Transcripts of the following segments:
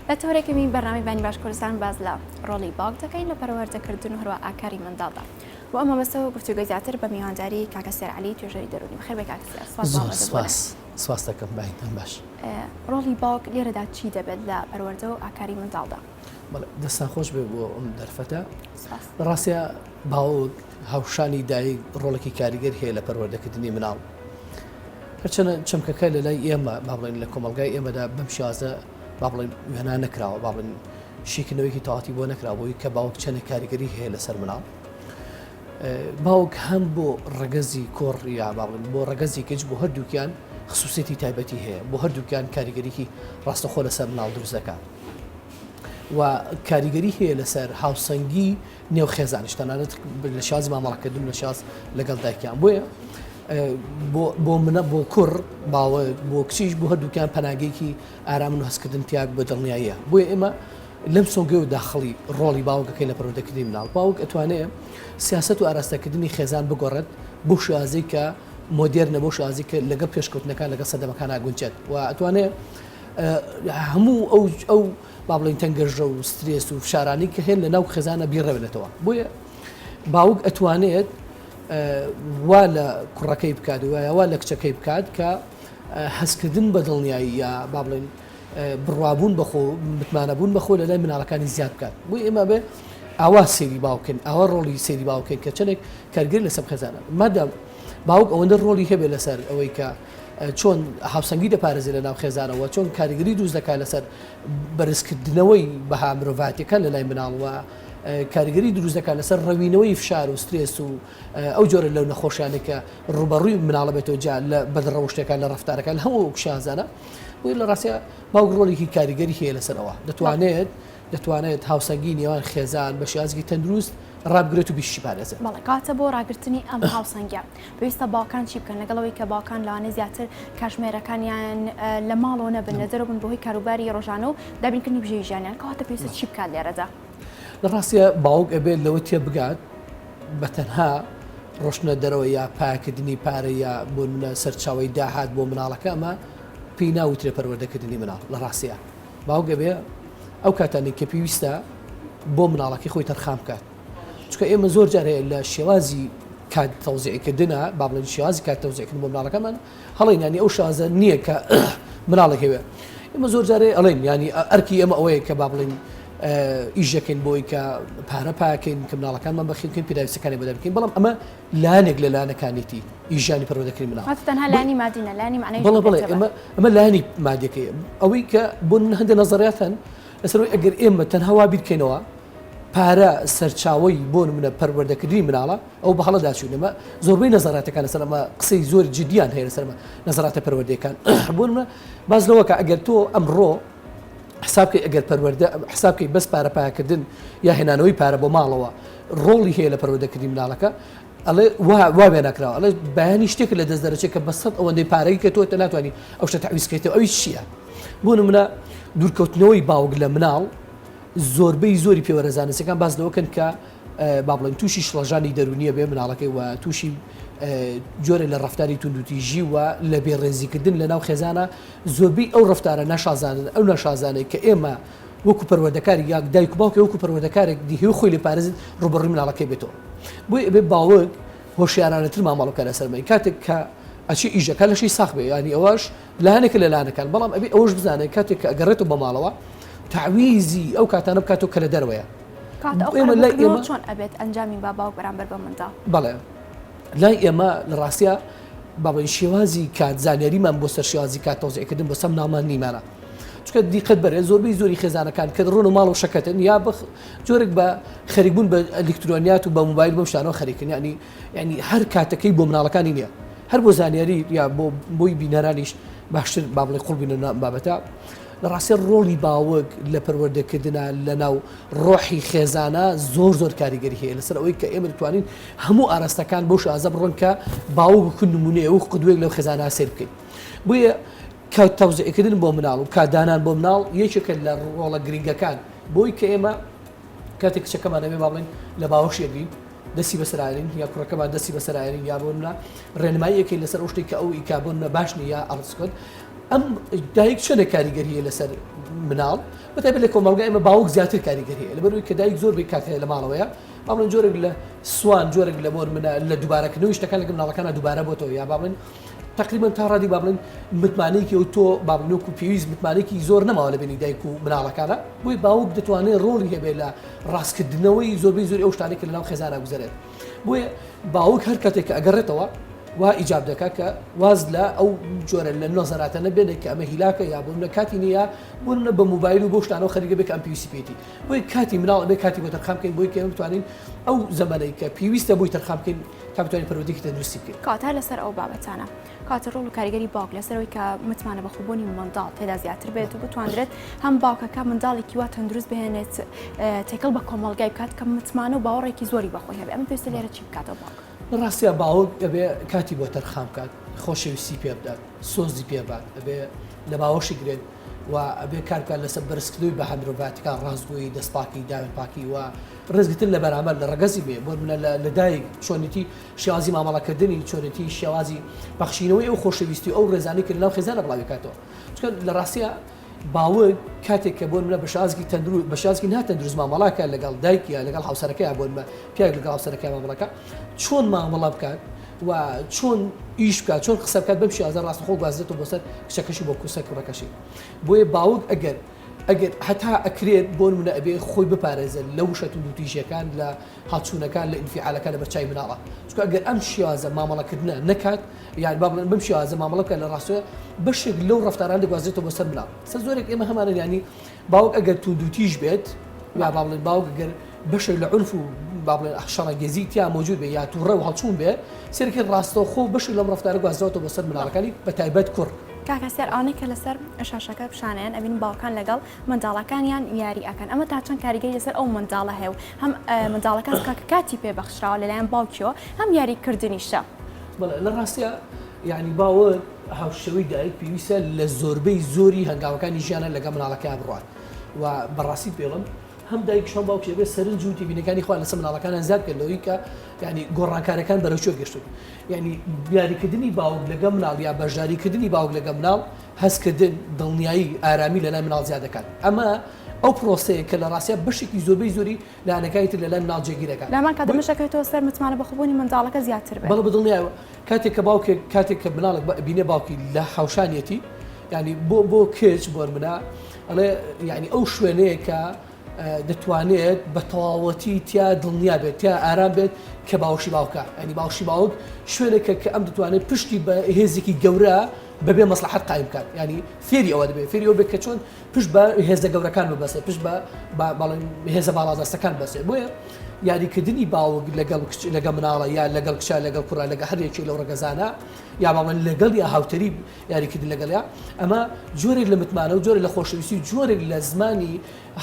لە تۆرێکەمی بەرنامی بانی باش کوردستان باز لە ڕۆڵی باوک دەکەین لە پەروەردەکردن و هەروە ئاکاری منداڵدا و ئەمە بەسەوە گفتوگوی زیاتر بە میوانداری کاکە سێرعلی توێژەری دەرونی بخێر بێ کاکە سێر سپاس زۆر سپاس سپاس دەکەم بایتان باش ڕۆڵی باوک لێرەدا چی دەبێت لە پەروەردە و ئاکاری منداڵدا دەستا خۆش بێ بۆ ئەم دەرفەتە ڕاستە باوک هاوشانی دایک ڕۆڵێکی کاریگەر هەیە لە پەروەردەکردنی مناڵ هەرچەندە چەمکەکە لە لای ئێمە با بڵێن لە کۆمەلگای ئێمەدا بەم شازە با بڵێن وێنا نەکراوە با بڵێن شیکردنەوەیکی تەواتی بۆ نەکرابووی کە باوک چەنە کاریگەری هەیە لەسەر مناڵ باوک هەم بۆ ڕگەزی کۆڕ یا با بڵێن بۆ ڕگەزی گەج بۆ هەردووکیان خصوصێتی تایبەتی هەیە بۆ هەردووکیان کاریگەریکی ڕاستەخۆ لەسەر مناڵ دروزەکە و کاریگەری هەیە لەسەر هاوسەنگی نێو خێزانیش تەنانەت لە شازی مامەڵەکردن لە شاز لەگەڵ دایکیان بۆیە بۆ منە بۆ کوڕ باوە بۆ کچیش بۆ هەردووکیان پەناگەیەکی ئارام و هەستکردن تیاک بە دڵنیاییە بۆیە ئێمە لەم سۆگەی و داخڵی ڕۆڵی باوکەکەی لە پرۆدەکردنی مناڵ باوک ئەتوانێت سیاست و ئاراستەکردنی خێزان بگۆڕێت بۆ شازی کە مۆدێرنە بۆ شازی کە لەگەڵ پێشکەوتنەکان لەگەڵ سەدەمەکان ناگونجێت و ئەتوانێت هەموو ئەو ئەو با بڵێین تەنگەژە و سترێس و فشارانی کە هێن لە ناو خێزانە بیڕەوێنێتەوە بۆیە باوک ئەتوانێت وا لە کوڕەکەی بکات وایەوا لە کچەکەی بکات کە هەستکردن بە دڵنیایی یا با بڵێن بڕوابوون بەخۆ متمانەبوون بەخۆ لە لای مناڵەکانی زیاد بکات بۆ ئێمە بێ ئاوا سێری باوکن ئاوا ڕۆڵی سێری باوکن کە چەندێک کارگر لەسەر خێزانە مادەم باوک ئەوەندە ڕۆڵی هەبێ لەسەر ئەوەی کە چۆن هاوسەنگی دەپارێزێت لە ناو خێزانەوە چۆن کاریگەری دروست دەکات لەسەر بەرزکردنەوەی بەها مرۆڤاتیەکە لە لای مناڵوە کاریگەری دروست دەکات لەسەر ڕەوینەوەی فشار و سترێس و ئەو جۆرە لەو نەخۆشیانە کە ڕوبەڕووی مناڵە بێتەوە جا لە بەدڕەوشتەکان لە ڕفتارەکان هەموو شازانە بۆی لە ڕاستە باوک ڕۆلێکی کاریگەری هەیە لەسەرەوە دەتوانێت دەتوانێت هاوسەنگی نێوان خێزان بە شازگی تەندروست ڕابگرێت و بیشی پارێزێت بەڵکاتە بۆ ڕاگررتنی ئەم هاوسەنگە. پێویستە باوکان چی بکەن لەگەڵ ئەوەی کە باوکان لەوانەیە زیاتر کاتژمێرەکانیان لە ماڵەوە نەبن لە دەرەوە بن بەهۆی کاروباری ڕۆژانە و دابینکردنی بژێوی ژیانیان کەواتە پێویستە چی بکات لێرەدا؟ لە ڕاستیدا باوک ئەبێت لەوە تێبگات بە تەنها ڕۆشتنە دەرەوە یا پاکردنی پارە یا بۆ منە سەرچاوی داهات بۆ مناڵەکە ئەمە پێی ناوترێ پەروەردەکردنی مناڵ لە ڕاستیە باوگە بێ ئەو کاتانی کە پێویستە بۆ مناڵەکەی خۆی تەرخان بکات چونکە ئێمە زۆر جار هەیە لە شێوازی کات تەوزیعکردنا با بڵێن شێوازی کات تەوزیعکردن بۆ مناڵەکەمان هەڵێن ینی ئەو شازە نییە کە مناڵێک هەوێ ئمە زۆر جارێ ئەڵێن ینی ئەرکی ئەمە ئەوەیە کە با بڵێن ئیشەکەین بۆی کە پارە پاکەین کە مناڵەکانمان بەخیکەین پیداویستەکانی بەدە بکەین بەڵام ئەمە لایەنێک لە لایەنەکانێتی ئیژانی پەرۆدەکەی مناڵ لانی مادینە لانی معنی بڵێ بڵێ ئەمە لانی مادەکەی ئەوەی کە بۆ هەندە نظریاتەن لەسەر ئەگەر ئێمە تەنها وا بیرکەینەوە پارە سەرچاوەی بۆ نمونە پەروەردەکردنی مناڵە ئەو بە هەڵەدا چوین ئەمە زۆربەی نەزەراتەکان لەسەر ئەمە قسەی زۆر جدیان هەیە لەسەر نەزەراتە پەروەردەکان بۆ نمونە باز لەوەکە ئەگەر تۆ ئەمڕۆ حسابکەی ئەگەر پەروەردە حسابکەی بەس پارە پاکردن یا هێنانەوەی پارە بۆ ماڵەوە ڕۆڵی هەیە لە پەروەردەکردنی مناڵەکە ئەڵێ واوێ ناکراوە ئەڵێ بەیانی شتێک لە دەست دەرەچێت کە بەسەد ئەوەندەی پارەی کە تۆ تە ناتوانانی ئەو شتە تعویزکەیتەوە ئەوی چییە بۆ نمونە دوورکەوتنەوەی باوک لە مناڵ زۆربەی زۆری پێوەرە زانستیەکان باس لەوەکەن کە با بڵێن تووشی شڵەژانی دەرونیە بێ مناڵەکەی وە تووشی جۆرە لە ڕفتاری توندوتیژی وە لە بێ ڕێزیکردن لە ناو خێزانە زۆربەی ئەو ڕفتارە ناشازانن ئەو ناشازانێک کە ئێمە وەکو پەروەردەکاری یاک دایک باوکە وەکو پەروەردەکارێک دیه و خۆی لە پارێزت ڕوبڕی مناڵەکەی بێتەوە بۆی ئەبێ باوەک هۆشیارانەتر مامەڵەکە لەسەر بین کاتێک کە ئەچی ئیشەکە لەشی ساخ بێ ینی ئەوەش لە هەنێکە لە لانەکان، بەڵام ئەبێ ئەوەش بزانێت کاتێک کە ئەگەڕێتەوە بە ماڵەوە تەعویزی ئەو کاتانە بکاتەوە کە لە دەرەوەیە. کاتە ئەو ئێمە لای قەرەبووکردنەوە ئێمە چۆن ئەبێت ئەنجامی با باوک بەرامبەر بە منداڵ؟ بەڵێ لای ئێمە لە ڕاستیا با بڵێین شێوازی کات زانیاریمان بۆ سەر شێوازی کات تەوزیعکردن بۆ سەم ناڵمان نیمانە. چونکە دیقەت بەرێ زۆربەی زۆری خێزانەکان کە دەڕۆن و ماڵ و شەکەتن یا بە جۆرێک بە خەریکبوون بە ئەلیکترۆنیات و بە موبایل بەم شتانەوە خەریکن یانی یانی هەر کاتەکەی بۆ مناڵەکانی نیە هەر بۆ زانیاری یا بۆ بۆی بینەرانیش باشتر با بڵێ قوڵ بینە نام بابەتە لە ڕاستێ ڕۆڵی باوەک لە پەروەردەکردنا لە ناو ڕۆحی خێزانە زۆر زۆر کاریگەری هەیە لەسەر ئەوەی کە ئێمە توانین هەموو ئاراستەکان بۆ شازە بڕۆن کە باوە بکن نمونەیە و قدوێک لەو خێزانە سێر بکەین بۆیە کە تەوزعکردن بۆ مناڵ و کادانان بۆ مناڵ یەکێکە لە ڕۆڵە گرنگەکان بۆی کە ئێمە کاتێک کچەکەمانەوێ باڵێن لە باوەشێگرین دەستی بەسەر ئایرین یا کوڕەکەمان دەستی بەسەر ئایرین یا بۆ منە ڕێنمایی یەکەی لەسەر ئەو شتێک کە ئەو ئیکا بۆ منە باش نیە ئەڵسکت ئەم دایک چۆنە کاریگەریە لەسەر مناڵ بەتابێت لە کۆمەڵگا ئمە باوک زیاتر کاریگەریە لە بەروی کە دایک زۆر بێ کاتەیە لە ماڵەوەیە بابن جۆرێک لە سوان جۆرێک لە مۆر منە لە دووبارەکردنەوەی شتەکان لەگە مناڵەکانە دووبارە بۆتەوە یا بابن تەقریبەن تا ڕادی با بڵێن متمانەیەکی ئەو تۆ با بڵێن وەکو پێویست متمانەیەکی زۆر نەماوە لە بینی دایک و مناڵەکانە بۆی باوک دەتوانێت ڕۆڵی هەبێت لە ڕاستکردنەوەی زۆربەی زۆر ئەو شتانێک لەناو خێزانە گوزارێت بۆیە باوک هەر کاتێک کە ئەگەڕێتەوە وا ئیجاب دەکات کە واز لە ئەو جۆرە لە نۆزەراتە نەبێنێت کە ئەمە هیلاکە یا بۆ منە کاتی نییە بۆ منە بە موبایل و بۆ شتانەوە خەریگە بێک ئەم پێویستی پێێتی بۆی کاتی مناڵ بێ کاتی بۆ تەرخامکەین بۆی کێن بتوانین ئەو زەمەەی کە پێویستە بۆی تەرخامکەین تا بتوانین پەروەردەیەکی تەندروستی بکەین. کاتە لەسەر ئەو بابەتانە کاتە ڕۆڵ و کاریگەری باوک لەسەرەوەی کە متمانە بە خوبوونی منداڵ تێدا زیاتر بێت و بتواندرێت هەم باوکەکە منداڵێکی وا تەندروست بهێنێت تێکەڵ بە کۆمەلگای بکات کە متمانە و باوەڕێکی زۆری بەخۆی هەبێ ئەم پێویستە لێرە چی بکاتەوە باوک لە ڕاستیا باوک ئەبێ کاتی بۆ تەرخان بکات خۆشەویستی پێ بدات سۆزی پێ بات ئەبێ لە باوەشی گرێت و ئەبێ کارکە لەسەر بەرزکردنەوەی بە هەمرۆڤاتەکان ڕاستگۆیی دەستپاکی داوێن پاکی وە ڕێزگرتن لە بەرامبەر لە ڕەگەزی بێ بۆ نمونە لە دایک چۆنێتی شێوازی مامەڵەکردنی چۆنێتی شێوازی پەخشینەوەی ئەو خۆشەویستی ئەو ڕێزانەی کە لەناو خێزانە بڵاوی کاتەوە چکە لە ڕاستە باوک کاتێک کە بۆن لە بەشازگی تەندرو بەشازگی ناتەندروست مامەڵاکە لەگەڵ دایکە لەگەڵ هاوسەرەکەی بۆن بە پیاگ لەگەڵ هاوسەرەکەی مامەڵەکە چۆن مامەڵە بکات و چۆن ئیش بکات چۆن قسە بکات بەم شێوازە ڕاستەخۆ گوازێتەوە بۆ سەر کچەکەشی بۆ کوسە کوڕەکەشی بۆیە باوک ئەگەر ئەگەر هەتا ئەکرێت بۆ نمونە ئەبێ خۆی بپارێزێت لە وشە توندوتیژیەکان لە هەڵچونەکان لە ئینفیعالەکان لە بەرچاوی مناڵان چونکە ئەگەر ئەم شێوازە مامەڵەکردنە نەکات یان با بڵێن بەم شێوازە مامەڵە بکات لە ڕاستە بەشێک لەو ڕەفتاران دەگوازرێتەوە بۆ سەر مناڵ سەر زۆرێک ئێمە هەمانە یانی باوک ئەگەر توندوتیژ بێت یا با بڵێن باوک گەر بەشێک لە عرف و با بڵێن شەڕەنگێزی تیا مۆجود بێ یا تووڕە و هەڵچوون بێ سەرکرد ڕاستەوخۆ بەشی لەم ڕفتارە گوازراوەوە بەسەر مناڵەکانی بە تایبەت کوڕ کاک هەستیار ئەوانەی کە لەسەر شاشەکە پیشانیان ئەبین باوکان لەگەڵ منداڵەکانیان یاری ئەکەن ئەمە تا چەند کاریگەری لەسەر ئەو منداڵە هەیە و هەم منداڵەکە کاک کاتی پێ بەخشراوە لەلایەن باوکیەوە هەم یاریکردنیشە. بەڵێ لە ڕاستیا یانی باوک هاوشێوەی دایک پێویستە لە زۆربەی زۆری هەنگاوەکانی ژیانە لەگەڵ مناڵەکەیا بڕوات و بەڕاستی پێڵم هەم دایکش هەم باوکش ئەبێ سەرنج و تێبینەکانی خۆیان لەسەر مناڵەکانیان زیاد بکەن لەوەی کە یانی گۆڕانکارەکان بەرەو کوێ گەشتوون یانی یاریکردنی باوک لەگەڵ مناڵ یا بەشداریکردنی باوک لەگەڵ مناڵ هەستکردن، دڵنیایی، ئارامی لەلای مناڵ زیاد دەکات. ئەمە ئەو پرۆسەیە کە لە ڕاستیدا بەشێکی زۆربەی زۆری لایەنەکانی تر لەلای مناڵ جێگیر دەکات. لەهەمان کاتدا بۆی. دەشەکەوێتەوە سەر متمانە بەخۆبوونی منداڵەکە زیاتر بێت. بەڵێ بەدڵنیایەوە کاتێک کە باوکێک کاتێک کە مناڵێک بە ئەبینێ باوکی لە هاوشانیەتی یانی بۆ بۆ کچ بۆرمنە ئەڵێ یانی ئەو شوێنەیە کە دەتوانێت بە تەواوەتی تیا دڵنیا بێت تیا ئارام بێت کە باوشی باوکە ئەنی باوشی باوک شوێنێکە کە ئەم دەتوانێت پشتی بە هێزێکی گەورە بەبێ مەسلحەت قایم بکات ینی فێری ئەوە دەبێت فێری ئەو بێت کە چۆن پشت بە هێزە گەورەکان ببەسێت پشت بە بەڵێن هێزە باڵادەستەکان بەسێت بۆیە یاریکردنی باوک لەگەڵ کچ لەگە مناڵە یا لەگەڵ کچە لەگەڵ کوڕە لەگە هەرێکی لەو ڕگەزانە یا باڵێن لەگەڵ یا هاوتەریب یاریکردن لەگەڵیا ئەمە جۆرێک لە متمانە و جۆرە لە خۆشەویستی و جۆرێک لە زمانی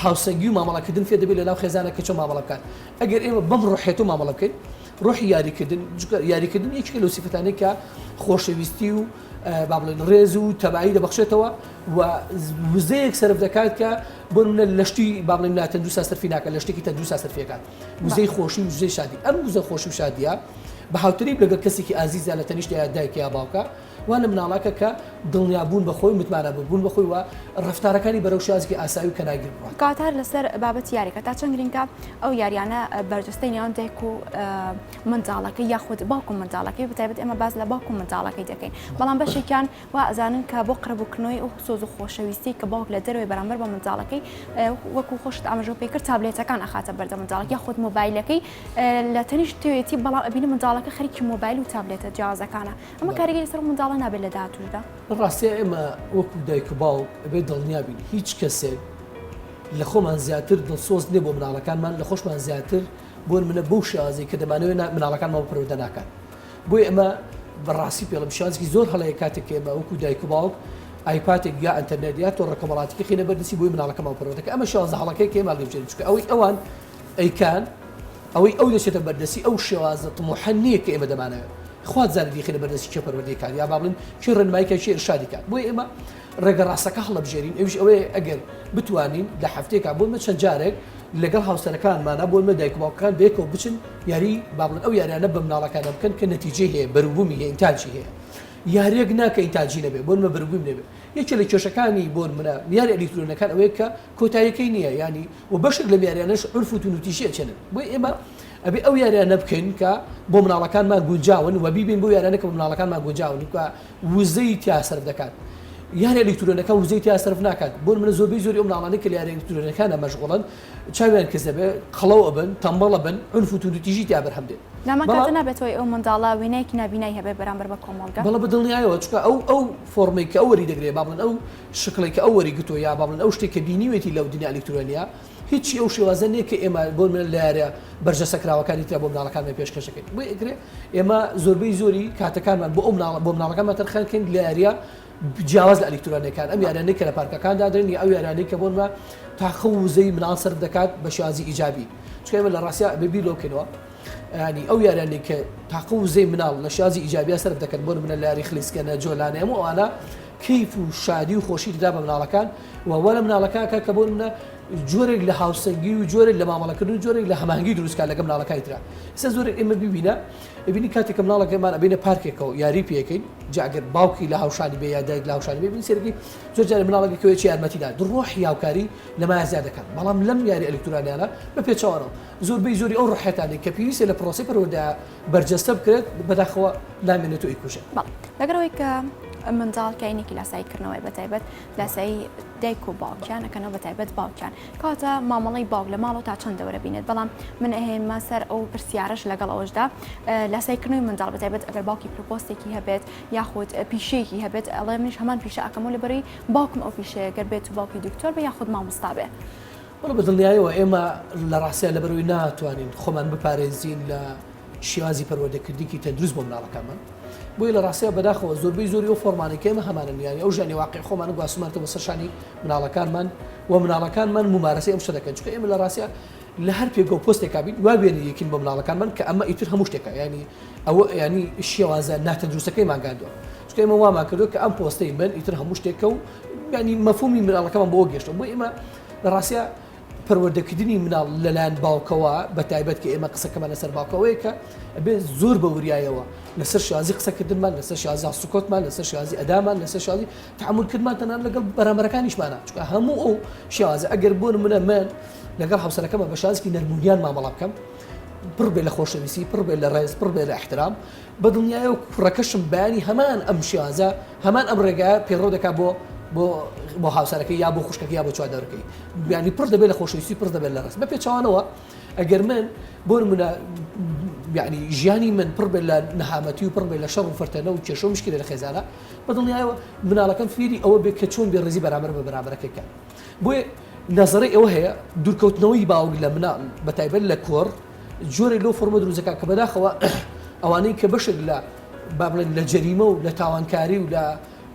هاوسەنگی و مامەڵەکردن فێ دەبێت لەناو خێزانە کە چۆ مامەڵە بکات ئەگەر ئێمە بەم ڕحێت و مامەڵە بکەین ڕۆحی یاریکردن یاریکردن یەکێک لە سیفەتانی کە خۆشەویستی و با بڵێن ڕێز و تەبایی دەبخشێتەوە و وزەیەک سرف دەکات کە بۆ منە لەشتی با بڵێن ناتەندروسا سەرفی ناکە لە شتێکی تەندروسا سەرفیەکان وزەی خۆشی و وزەی شادی ئەم وزە خۆشی و شادیە بە هاوتەریب لەگەڵ کەسێکی ئازیزە لە تەنیشتە دایکە یا باوکە وا لە مناڵە کە کە دڵنیا بوون بە خۆی و متمانە بە بوون بە خۆی و ڕەفتارەکانی بەرەو شێوازێکی ئاسایی و کەناگیر بڕوات. کاتار لەسەر بابەتی یاریەکە، تا چەند گرینگە ئەو یاریانە بەرجەستەی نێوان دایک و منداڵەکەی یاخود باوک و منداڵەکەی بەتایبەت ئێمە باس لە باوک و منداڵەکەی دەکەین بەڵام بەشێکیان وا ئەزانن کە بۆ قڕبووکردنەوەی ئەو سۆز و خۆشەویستی کە باوک لە دەرەوەی بەرامبەر بە منداڵەکەی وەکو خۆشت ئاماژەو پێکرد تابلێتەکان ئەخاتە بەردە منداڵەکە یاخود مۆبایلەکەی لە تەنیشت توێتی بەڵام ئەبینی منداڵەکە خەریکی مۆبایل و تابلێتە جیاوازەکانە. ئەمە کاریگەری سەر منداڵە نابێت لە داهاتووشدا؟ لە ڕاستیا ئێمە وەکو دایک و باوک ئەبێت دڵنیابین هیچ کەسێک لە خۆمان زیاتر دڵسۆز نیە بۆ مناڵەکانمان لە خۆشمان زیاتر بۆ منە بەو شێوازی کە دەمانەوێت مناڵەکانمان پەرۆدە ناکات بۆی ئەمە بەڕاستی پێڵم شانسکی زۆر هەڵەیە کاتێک کە ئێمە وەکو دایک و باوک ئایپاتێک یا ئەتەرنێت یا تۆ ڕکەمەڵاتیکی خینە بەردسی بۆی مناڵەکەمان پەرۆدەکە ئەمە شازە هەڵەکەی کێماڵ دەبژێت چکە ئەوەی ئەوان ئەیکان ئەوەی ئەو دەچێتە بەردەسی ئەو شێوازە تموحە نییە کە ئێمە دەمانەوێت خوات زانێت یخی لە بەردەسی کێ پەروەردەیکات یا بابلین چی ڕێنمایکە چی ئرشادیکات بۆی ئێمە ڕێگە ڕاستەکە هەڵبژێرین ئەوش ئەوەیە ئەگەر بتوانین لە هەفتێکا بۆمە چەند جارێک لەگەڵ هاوسەرەکانمانە بۆ مە دایک باوکەکان بێکەوە بچن یاری بابلن ئەو یاریانە بە مناڵەکانە بکەن کە نەتیجێ هەیە بەروبوومی هەیە تاجی هەیە یاریەک ناکە ئینتاجی نەبێ بۆن مە بەرگویم نەبێ یەکێ لە کێشەکانی بۆن منە یاری ئەلیکترۆنەکان ئەوەیە کە کۆتایەکەی نیە یانی و بەشێک لەم یاریانەش عورف و تونوتیژی ئەچێنن بۆی ئێمە ئەبێ ئەو یاریانە بکەین کە بۆ مناڵەکانمان گونجاون و بیبین بۆ یارانە کە مناڵەکانمان گونجاون و وزەی تیا سەرف دەکات یارە ئەلکترۆنەکە وزەی تیا سەرف ناکات بۆ منە زۆربەی زۆری مناڵانە کە یارە ئەلکترۆنەکانە مەشغڵن چاویان کەسەبێ قەڵەو ئەبن تەمبەڵە بن عنف و تونوتیژی تیا بەرهەم دێت نامەکاتە نابێتەوەی ئەو منداڵە وینەیەکی نابینای هەبێ بەرامبەر بە کۆمەڵگە بەڵە بە دڵنیایەوە چکە ئەو ئەو فۆرمێک کە ئەوەری دەگرێ بابن ئەو شکڵێک کە ئەو وەریگرتووە یا با بڵێن ئەو شتێک کە بینیوێتی لەو دنیا ئەلیکترۆنییە، هیچی ئەو شێوازە نییە کە ئێمە بۆ نموونە لە یارییە بەرجەستەکراوەکانی ترا بۆ منداڵەکانمان پێشکەش دەکەین. بۆیە ئەکرێ ئێمە زۆربەی زۆری کاتەکانمان بۆ ئەو مناڵە بۆ منداڵەکانمان تەرخان کەین لە یارییە جیاواز لە ئەلیکترۆنییەکان، ئەم یاریانەی کە لە پارکەکان دادەنێن یا ئەو یاریانەی کە بۆ نموونە تاقە و وزەی منداڵ سەرف دەکات بە شێوازی ئیجابی. چونکە ئێمە لە ڕاستیا ئەبێ بیر لەوە بکەینەوە یانی ئەو یاریانەی کە تاقە و وزەی منداڵ لە شێوازی ئیجابییە سەرف دەکەن بۆ نموونە لە یاری خلیسکێنە، جۆلانێ هەموو ئەوانە کەیف و شادی و خۆشیت دا بە مناڵەکان و وا لە مناڵەکان کە کە بۆ منە جۆرێک لە هاوسەنگی و جۆرێک لە مامەڵەکردن و جۆرێک لە هەمانگی دروستکە لەگە مناڵەکانی تررا ئستا زۆر ئمە ببینە ببینی کاتێک کە مناڵەکە ئەمان ئەبینە پارکێکەوە یاری پێەکەین جاگەر باوکی لە هاوشانی بێ یادایک لە هاوشانی بێ سەرگی زۆر جارە مناڵەکە کەوێکی یارمەتیدا دڕۆح یاوکاری لە مازیا دەکەن بەڵام لەم یاری ئەلکترانیانە بە پێچوانەوە زۆربەی زۆری ئەو ڕحێتانی کە پێویستە لە پرۆسی پەرۆدا بەرجەستە بکرێت بەداخەوە نامێنێت و ئەیکوژێت. بەڵێ لەگەڵ ئەوەی کە منداڵ کاینێکی لاسایی کردنەوەی بەتایبەت لاسایی دایک و باوکیان ئەەکەنەوە بەتایبەت باوکیان کاتە مامەڵی باوک لە ماڵەوە تا چەند دەورە بینێت بەڵام من ئەهێنمە سەر ئەو پرسیارش لەگەڵ ئەوەشدا لاسایکردنەوەی منداڵ بەتایبەت ئەگەر باوکی پرپۆستێکی هەبێت یاخود پیشەیەکی هەبێت ئەڵێ منیش هەمان پیشە ئەکەمەوە لەبەری باوکم ئەو پیشەیە گەر بێت و باوکی دکتۆر بە یاخود مامۆستابێ. وەڵا بە دڵنیایەوە ئێمە لە ڕاستیا لەبەرەوەی ناتوانین خۆمان بپارێزین لە شێوازی پەروەردەکردنیکی تەندروست بۆ مناڵەکانمان بۆی لە ڕاستیا بەداخەوە زۆربەی زۆری ئەو فۆرمانەی کە ئێمە هەمانە نیانی ئەو ژانی واقعی خۆمان گواستمانەوە بەسەر شانی مناڵەکانمان و مناڵەکانمان ممارەسەی ئەم شتە دەکەن چونکە ئێمە لە ڕاستیا لە هەر پێگە و پۆستێکا بین وا وێنەیەکین بۆ مناڵەکانمان کە ئەمە ئیتر هەموو شتێکە یانی ئەوە یانی شێوازە ناتەندروستەکەیمان گاندووە چونکە ئێمە وامان کردو کە ئەم پۆستەی من ئیتر هەموو شتێکە و یانی مەفهومی مناڵەکەمان بۆ گەشتووە بۆی ئێمە لە ڕاستیا پەروەردەکردنی مناڵ لەلایەن باوکەوە بە تایبەت کە ئێمە قسەکەمان لەسەر باوکەوەیە کە ئەبێ زۆر بە وریایەوە لەسەر شازی قسەکردنمان لەسەر شازا سکۆتمان لەسەر شازی ئەدامان لەسەر شازی تعملکردمان تەنان لەگەڵ بەرامەرەکانیشمانە چکە هەموو ئەو شازە ئەگەر بۆن منە من لەگەڵ هاوسەرەکەمە بە شازکی نەرمونیان مامەڵە بکەم پڕ بێ لە خۆشەویستی پڕ بێ لە ڕێز پڕ بێ لە احترام بەدڵنیایە و کوڕەکەشم بەیانی هەمان ئەم شێوازە، هەمان ئەم ڕێگایە پەیڕەو دەکات بۆ بۆ بۆ هاوسەرەکەی یا بۆ خوشکەکەی یا بۆ چواردەوەرەکەی. یانی پڕ دەبێت لە خۆشەویستی و پڕ دەبێت لە ڕێز. بە پێچەوانەوە ئەگەر من بۆ نموونە یانی ژیانی من پڕ بێت لە نەهامەتی و پڕ بێت لە شەڕ و فەرتەنە و کێشە و مشکلە لە خێزانە، بەدڵنیایەوە مناڵەکەم فێری ئەوە بێت کە چۆن بێڕێزی بەرامبەر بە بەرامبەرەکەی بکات. بۆیە نەزەرەی ئەوە هەیە دوورکەوتنەوەی باوک لە مناڵ بە تایبەت لە کوڕ جۆرێک لەو فۆرمە دروست دەکات کە بەداخەوە ئەوانەی کە بەشێک لە با بڵێن لە جەریمە و لە تاوانکاری و لە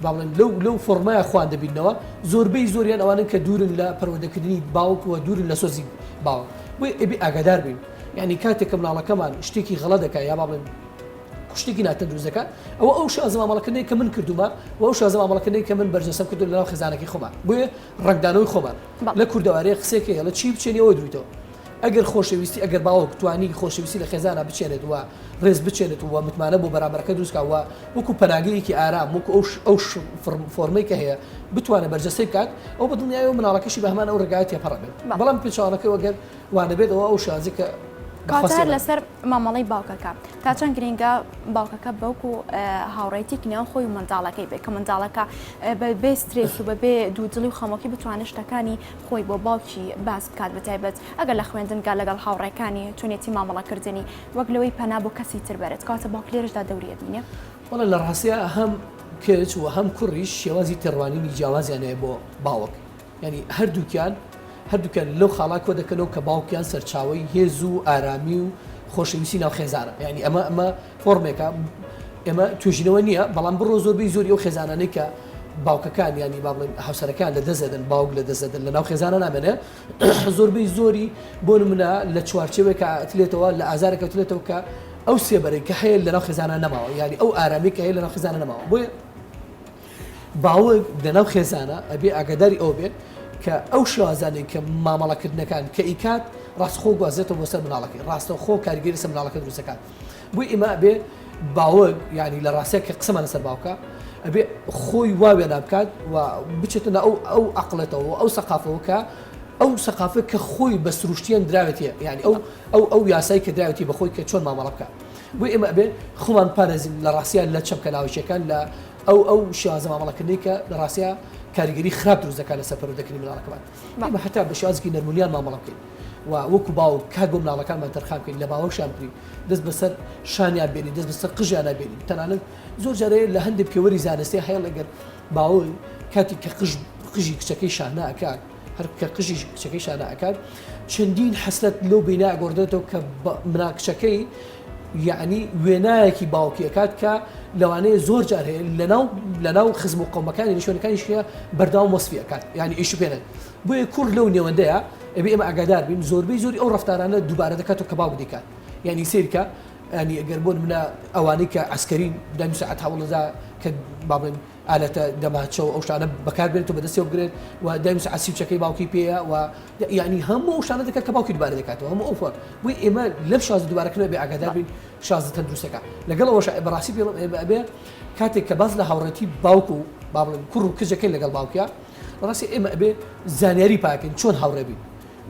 با بڵێن لەو لەو فۆرمایە خوان دەبینەوە زۆربەی زۆریان ئەوانن کە دوورن لە پەروەردەکردنی باوک و دوورن لە سۆزی باوک بۆیە ئەبێ ئاگادار بین یعنی کاتێک کە مناڵەکەمان شتێکی غەڵەت دەکات یا با بڵێن شتێکی ناتە دروست دەکات ئەوە ئەو شازە مامەڵەکردنی کە من کردومە و ئەو شازە مامەڵەکردنی کە من بەرجەسەم کردو لەناو خێزانەکەی خۆمان بۆیە ڕەنگدانەوەی خۆمان لە کوردەوارەیە قسێکە هێڵە چی بچێنی ئەوە درویتەوە ئەگەر خۆشەویستی ئەگەر باوەک توانی خۆشەویستی لە خێزانە بچێنێت وە ڕێز بچێنێت و متمانە بۆ بەرامبەرەکە دروستکەوە وەکو پەناگەیەکی ئارام وەکو ئەو ئەو فۆرمەی کە هەیە بتوانێت بەرجەسەی بکات ئەو بە دڵنیایەوە مناڵەکەشی بە هەمان ئەو ڕێگایە تێپەڕەبێت بەڵام پێچوانەکەی وەگەر وانەبێت ئەوە ئەو شازە کە کاتار لەسەر مامەڵی باوکەکە تا چەند گرنگە باوکەکە بەوک و هاوڕێتیک نێو خۆی و منداڵەکەی بێ کە منداڵەکە بەبێ سترێس و بەبێ دوودڵی و خەمۆکی بتوانێت شتەکانی خۆی بۆ باوکی باس بکات بەتایبەت ئەگەر لە خوێندنگا لەگەڵ هاوڕێکانی تونێتی مامەڵەکردنی وەک لەوەی پەنا بۆ کەسی تر بەرێت کاتە باوک لێرشدا دەوریە دینێ وڵە لە ڕاستە هەم کچ و هەم کوڕیش شێوازی تێڕوانینی جیاوازیانەیە بۆ باوک یانی هەردووکیان هەردووکیان لەو خاڵا کۆ دەکەنەوە کە باوکیان سەرچاوی هێز و ئارامی و خۆشەویستی ناو خێزانە یعنی ئەمە ئەمە فۆرمێکە ئێمە توێژینەوە نییە بەڵام بڕۆ زۆربی زۆری و خێزانانەی کە باوکەکان ینی با بڵێن هاوسەرەکان لە دەزدەن باوک لە دەزدەن لە ناو خێزانە نامێنێ زۆربەی زۆری بۆ منە لە چوارچەوێکە ئەتلێتەوە لە ئازارێکە تلێتەوە کە ئەو سێبەرەی کە هەیە لە ناو خێزانە نەماوە یاری ئەو ئارامی کە هەیە لە ناو خێزانە نەماوە بۆیە باوک لە ناو خێزانە ئەبێ ئاگاداری ئەوە بێت کە ئەو شێوازانەی کە مامەڵەکردنەکان کە ئیکات ڕاستخۆ گوازێتەوە بۆ سەر مناڵەکەی ڕاستەوخۆ کارگەری سە مناڵەکە دروستەکان بۆی ئێمە ئەبێ باوک ینی لە ڕاستەیە کە قسەمان لەسەر باوکە ئەبێ خۆی واوێنا بکات و بچێتە نە ئەو ئەو عقلێتەوە ئەو سەقافەوە کە ئەو سەقافە کە خۆی بە سروشتیان دراوێتە یعنی ئەو ئەو ئەو یاسایی کە دراوێتی بەخۆی کە چۆن مامەڵە بکە بۆیە ئێمە ئەبێ خۆمان بپارێزین لە ڕاستیا لە چەمکە لاوەکییەکان لە ئەو ئەو شێوازە مامەڵەکردنەی کە لە ڕاستیا کاریگەری خراپ دروست دەکات لەسەر پەروەردەکردنی مناڵەکەمان ئێمە هەتا بە شێوازێکی نەرمونیان مامەڵە بکەین و وەکو باوک کات بۆ مناڵەکانمان تەرخان بکەین لە باوەشیان بگرین دەست بەسەر شانیان بێنین دەست بەسەر قژیان نابێنین تەنانەت زۆر جارەیە لە هەندێک پێوەری زانستی هەیڵ ئەگەر باوەی کاتی کە قژ قژی کچەکەی شانە ئەکات هەر کە قژیش کچەکەی شانە ئەکات چەندین حەسرەت لەو بینا ئەگۆڕدرێتەوە کە منا کچەکەی یعنی وێنایەکی باوکی ئەکات کە لەوانەیە زۆر جار هەیە لەناو لەناو خزم و قومەکانی نیشۆنەکانی شە بەرداوام وەسفی ئەکات یعنی ئیش پێێنن بۆیە کوڕ لەو نێوەندەیە ئەبێ ئمە ئەگادار بین زۆربەی زۆری ئەو ڕفتارانە دووبارە دەکات و کە باوک دیکات یعنی سیرکە ئەنی ئەگەر بۆن منە ئەوانەی کە ئەسکەرین دەنووسعات هەوڵدا کە بابن ئالەتە دەماچە و ئەو شتانە بەکار بێنێت و بەدەستیەوە بگرێت و دەنووسێت عەسیبچەکەی باوکی پێیە و یانی هەموو ئەو شتانە دەکات کە باوکی دووبارە دەکاتەوە هەموو ئەو فۆن بۆی ئێمە لەم شازە دووبارەکردنەوە بێ ئاگادار بین شازە تەندروستەکە لەگەڵ ئەوەش بەڕاستی پێڵم ئێمە ئەبێ کاتێک کە باس لە هاوڕێتی باوک و با بڵێن کوڕ و کجەکەی لەگەڵ باوکە بەڕاستی ئێمە ئەبێ زانیاری پاکەین چۆن هاوڕێ بین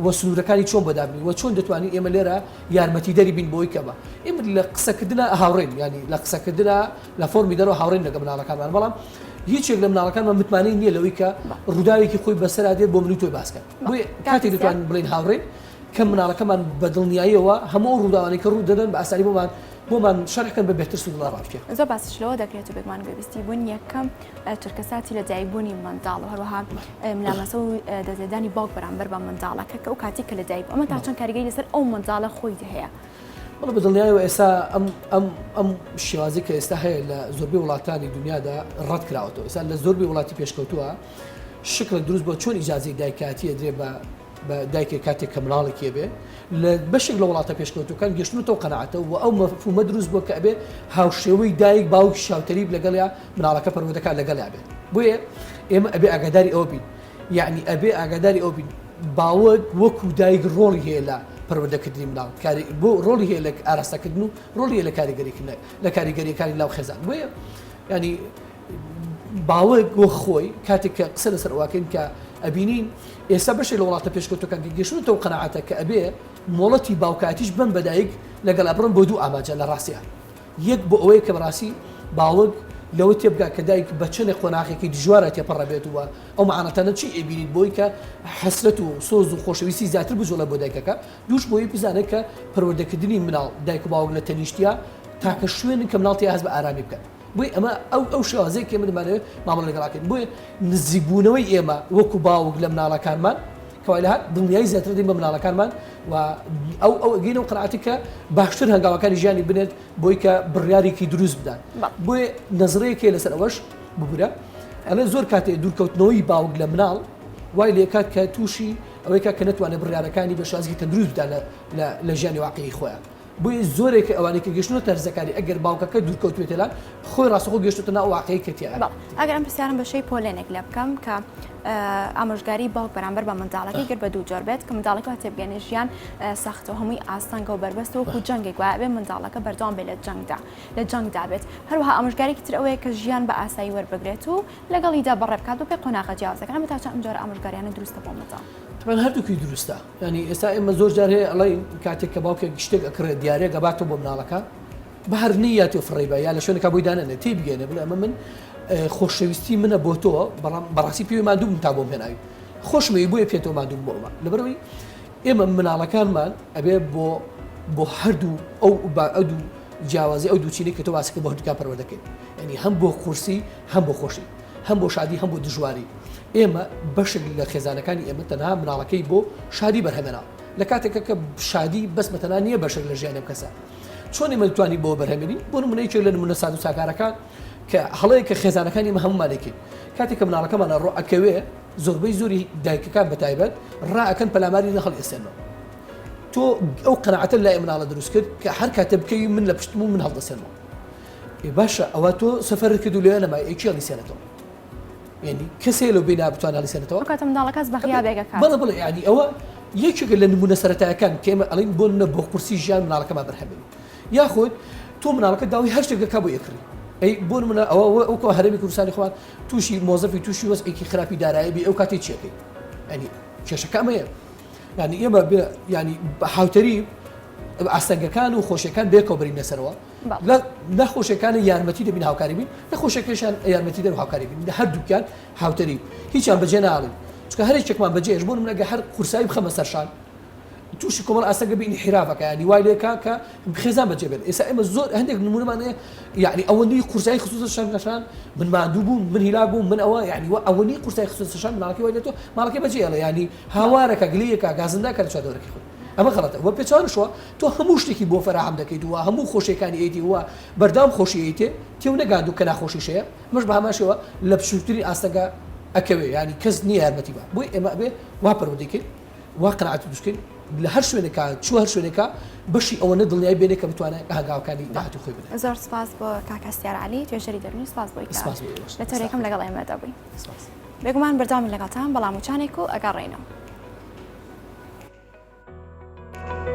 وە سنورەکانی چۆن بەدابنێی وە چۆن دەتوانین ئێمە لێرە یارمەتیدەری بین بۆی کە بە ئێمە لە قسەکردنا هاوڕێین یانی لە قسەکردنا لە فۆرمی دەرەوە هاوڕێین لەگە مناڵەکانمان بەڵام هیچێک لە مناڵەکانمان متمانەی نییە لەوەی کە ڕووداوێکی خۆی بەسەرا دێت بۆ منی تۆی باسکەن بۆیە کاتێک دەتوانین بڵین هاوڕێین کە مناڵەکەمان بە دڵنیاییەوە هەموو ئەو ڕووداوانەی کە ڕوو دەدەن بە ئاسانی بۆمان بۆمان شەرحکەن بە بەهتر سودڵە ڕاستە. زۆر باسیش لەوە دەکرێت و بێگومان گوێبیستی بوون یەکەم چرکەساتی لە دایکبوونی منداڵ و هەروەها ملاماسە و دەزێدانی باوک بەرامبەر بە منداڵەکە کە ئەو کاتی کە لەدایک ئەمە تا چەند کاریگەی لەسەر ئەو منداڵە خۆی هەیە. بڵ بە دڵنیایەوە ئێستا ئەم ئەم ئەم شێوازی کە ئێستا هەیە لە زۆربەی وڵاتانی دنیادا ڕەت کراوەتەوە ئێستا لە زۆربەی وڵاتی پێشکەوتووە شکڵێک دروست بۆ چۆن ئیجازەی دایکاتیە درێ بە بە دایکێک کاتێک کە مناڵێکی بێ لە بەشێک لە وڵاتە پێشکەوتوەکان گەشتنەوە قەنەعاتە و ئەو مەفومە دروست بۆ کە ئەبێ هاوشێوەی دایک باوکی شاوتەریب لەگەڵیا مناڵەکە پەروەدەکان لەگەڵیا بێت بۆیە ئێمە ئەبێ ئاگاداری ئەوە بین یعنی ئەبێ ئاگاداری ئەو بین باوەت وەکو دایک ڕۆڵی هەیە لە پەروەدەکردنی مناڵ کاری بۆ ڕۆڵی هەیە لە ئاراستەکردن و ڕۆڵی لە کاریگەریکردن لە کاریگەریەکانی لاو خێزان بۆیە ینی باوک وەک خۆی کاتێک کە قسە لەسەر ئەوواکەین کە ئەبینین ئێستا بەشێ لە وڵاتە پێشکەوتەکان کە گەشتوتە و قەنەعاتە کە ئەبێ مۆڵەتی باوکاتیش بم بەدایک لەگەڵ بڕم بۆ دوو ئاماجە لە ڕاستیان یەک بۆ ئەوەیە کە بەڕاستی باوک لەوە تێبگا کە دایک بە چەنێ قۆناغێکی دژوارە تێپەڕە بێت وە ئەو معانەتەنە چی ئەبینیت بۆی کە حەسرەت و سۆز و خۆشەویستی زیاتر بجوڵە بۆ دایکەکە دووش بۆی بزانێت کە پەروەردەکردنی مناڵ دایک و باوک لە تەنیشتیا تاکە شوێنن کە مناڵتی هەست بە ئارامی بکەن بۆیە ئەمە ئەو ئەو شێوازەیە کە ئێمە دەمانەوێت مامەڵە لەگەڵا بکەین. بۆیە نزیکبوونەوەی ئێمە وەکو باوک لە مناڵەکانمان کە وای لە هات دڵنیایی زیاتر دەین بە مناڵەکانمان و ئەو ئەو ئەگەین و قرعاتی کە باشتر هەنگاوەکانی ژیانی بنێت بۆی کە بڕیارێکی دروست بدات بۆیە نەزڕەیەکێ لەسەر ئەوەش ببورە ئەلێ زۆر کاتێ دوورکەوتنەوەی باوک لە مناڵ وای لێکات کە تووشی ئەوەی کە کە نتوانێت بڕیارەکانی بە شازی تەندروست بدات لە لە ژیانی واقعی خۆیان. بۆیە زۆرێک لە ئەوانەی کە گەشتوونەتە هەرزەکاری ئەگەر باوکەکە دوورکەوتوێتە لان، خۆی ڕاستەوخۆ گەشتووەتە ناو ئەو واقیعەی کە تیایە. بەڵێ، ئەگەر ئەم پرسیارەم بە شێی پۆلێنێک لێ بکەم کە ئامۆژگاری باوک بەرامبەر بە منداڵەکەی گەر بە دوو جۆر بێت کە منداڵەکە وا تێبگەنێ ژیان سەختە و هەمووی ئاستەنگە و بەربەستە وەکوو جەنگێک وایە ئەبێ منداڵەکە بەردەوام بێ لە جەنگدا لە جەنگدا بێت. هەروەها ئامۆژگارێکی تر ئەوەیە کە ژیان بە ئاسایی وەربگرێت و لەگەڵیدا بەڕێ بکات بەپێی قۆناغە جیاوازەکان. ئەمە تا چەند ئەم جۆرە ئامۆژگارییانە دروستە بۆ منداڵ؟ من هەردووکی دروستە ینی ئێستا ئێمە زۆر جار هەیە ئەڵی کاتێک کە باوکێک گشتێک ئەکڕێت دیارێک گەباتەوە بۆ مناڵەکە بە هەرنی یا تۆ فڕێبە یا لە شوێنەکە بۆی دانێنێت تی بگەێنێ بڵێ ئەمە من خۆشەویستی منە بۆ تۆ بەڵام بەڕاستی پێوی مادووم تا بۆم هێناوی خۆشمەوی بۆیە پێێتەوە مادووم بۆمە لەبەرەوەی ئێمە مناڵەکانمان ئەبێ بۆ بۆ هەردوو ئەو ئەو دوو جیاوازی ئەو دووچینی کە تۆ واسەکە بە هەردووکە پەروەردەکەین ینی هەم بۆ قورسی هەم بۆ خۆشی هەم بۆ شادی هەم بۆ دژواری ئێمە بەشێک لە خێزانەکانی ئێمە تەنها مناڵەکەی بۆ شادی بەرهەمێنا لە کاتێکە کە شادی بەس بەتەنها نییە بەشێک لە ژیانی ئەم کەسە چۆن ئێمە توانی بۆ بەرهەمێنین بۆ نمونەیەکێک لە نمونە ساز و ساکارەکان کە هەڵەیە کە خێزانەکانی ئمە هەمومانێکین کاتێک کە مناڵەکەمانە ڕۆ ئەکەوێ زۆربەی زۆری دایکەکان بە تایبەت ڕائەکەن پەلاماری نە هەڵئێسێنەوە تۆ ئەو قەنەعەتە لای مناڵە دروست کرد کە هەر کاتێ بکەوی من لە پشتم و من هەڵدەسێنەوە ئێ باشە ئەوە تۆ سەفەرت کرد و لەوێ نەمای ئەی کێ هەڵیسێنێتەوە؟ یانی کەسێ لەو بینایە بتوانێ هەڵیسێنێتەوە؟ ئەو کاتە منداڵە کەس بە غیابێک ئەکات. بەڵێ بەڵێ یانی ئەوە یەکێکە لە نموونە سەرەتایەکان کە ئێمە ئەڵێین بۆ نموونە بۆ قورسی ژیان منداڵەکەمان بەرهەم بێنین یاخود تۆ منداڵەکەت داوای هەر شتێک دەکات بۆ ئێکڕی ئەی بۆ نموونە ئەوە وە ئەوکەوە هەرێمی کوردستانی خۆمان تووشی مۆزەفی تووشی وەزعێکی خراپی دارایی بی ئەو کاتی چی ئەکەی؟ یانی کێشەکە ئەمەیە یانی ئێمە بێ یانی هاوتەریب ئاستەنگەکان و خۆشیەکان بێکەوە بەرینە سەرەوە لە نەخۆشەکانی یارمەتی دەبین هاوکاری بین نەخۆشەکەشان یارمەتی دەر هاوکاری بین لە هەردووکیان هاوتەری هیچیان بەجێ ناڵین چکە هەر چێکمان بەجێش بۆ منەگە هەر قورسایی بخەمە سەرشان تووشی کۆمەڵ ئاستەکە بینی حراڤەکە ینی وای لێکا کە خێزان بەجێ بێت ئێستا ئێمە زۆر هەندێک نمونمانەیە یعنی ئەوەندی قورسایی خصوص شان نەشان من مادوو بووم من هیلا بووم من ئەوە یعنی وە ئەوەنی قورسای خصوص شان ماڵکی وای لێتۆ ماڵکی بەجێڵە ینی هاوارەکە گلەکە گازندا کە چادۆرەکە خۆ ئەمە غەڵەتە وە پێچەوانەش وە تۆ هەموو شتێکی بۆ فەراهەم دەکەیت و هەموو خۆشیەکانی ئەیدی وە بەردەوام خۆشی ئەیتێ تێو نەگاندوو کە ناخۆشیش هەیە ئەمەش بە هەمان شێوە لە بچووکترین ئاستەنگا ئەکەوێ یانی کەس نییە یارمەتی بە بۆی ئێمە ئەبێ وا پەروەردەی کەین وا قەناعەتی دروست کەین لە هەر شوێنێکا چوو هەر شوێنێکا بەشی ئەوەنە دڵنیای بێنێ کە بتوانێت هەنگاوەکانی داهاتوو خۆی بدات زۆر سپاس بۆ کاک هەستیار عەلی توێژەری دەروونی سپاس بۆی کە سپاس بۆ ئێوەش لە تۆرێکەم لەگەڵ ئێمەدا بووی سپاس. بێگومان بەردەوامین لەگەڵتان بەڵام وچانێک و ئەگەڕێینەوە.